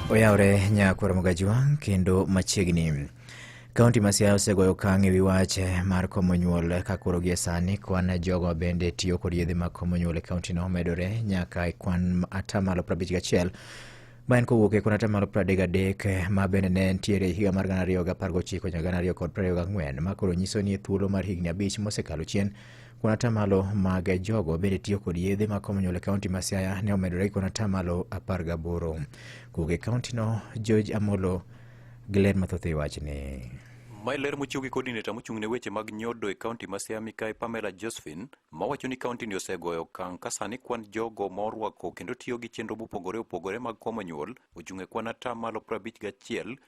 Oyawre nyakwar Mugajwa kendo machiegni. Kaunti ma Siaya osegoyo okang' e wi wach mar komo nyuol ka koro gie sani kwan jogo bende tiyo kod yedhe mag komo nyuol e kauntino omedore nyaka e kwan atamalo 51 ma en kowuok e kwan atamalo 33 ma bende ne nitiere e higa mar 2019 nyaka 2024 ma koro nyiso ni e thuolo mar higni abich mosekalo chien Kuon atamalo mag jogo bende tiyo kod yedhe ma Commonwealth e kaunti ma Siaya ne omedore gi kuon atamalo apar gaboro. Kowuok e kauntino, George Amolo gi ler mathoth e wachni. Mae ler mochiw gi coordinator mochung' ne weche mag nyodo e kaunti ma Siaya Mikayi Pamela Josephine mawacho ni kauntini osegoyo okang' ka sani kwan jogo ma orwako kendo tiyo gi chenro mopogore opogore mag Commonwealth ochung' e kwan atamalo prabich gachiel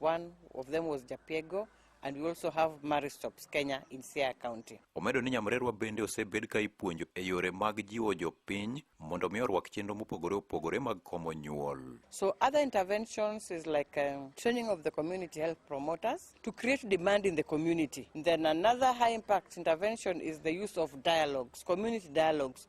One of them was Japiego and we also have Maristops, Kenya in Siaya County. Omedo ni nyamrerwa bende osebed ka ipuonjo e yore mag jiwo jopiny mondo mi orwak chenro mopogore opogore mag komo nyuol. So other interventions is like um, training of the community health promoters to create demand in the community. Then another high impact intervention is the use of dialogues, community dialogues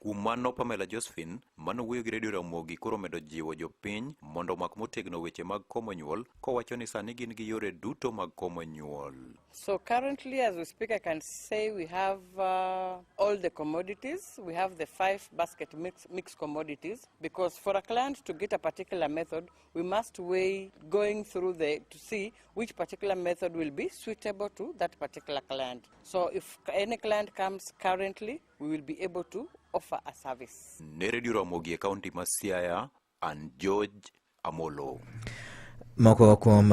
Kuom mano Pamela Josephine mano wuoyo gi Radio Ramogi koro medo jiwo jopiny mondo omak motegno weche mag komo nyuol kowacho ni sani gin gi yore duto mag komo nyuol. So currently as we speak I can say we have uh, all the commodities. We have the five basket mix, mix commodities because for a client to get a particular method we must weigh going through the to see which particular method will be suitable to that particular client. So if any client comes currently we will be able to offer a service. Ne Radio Ramogi e kaunti ma Siaya, and George Amolo. Moko kuom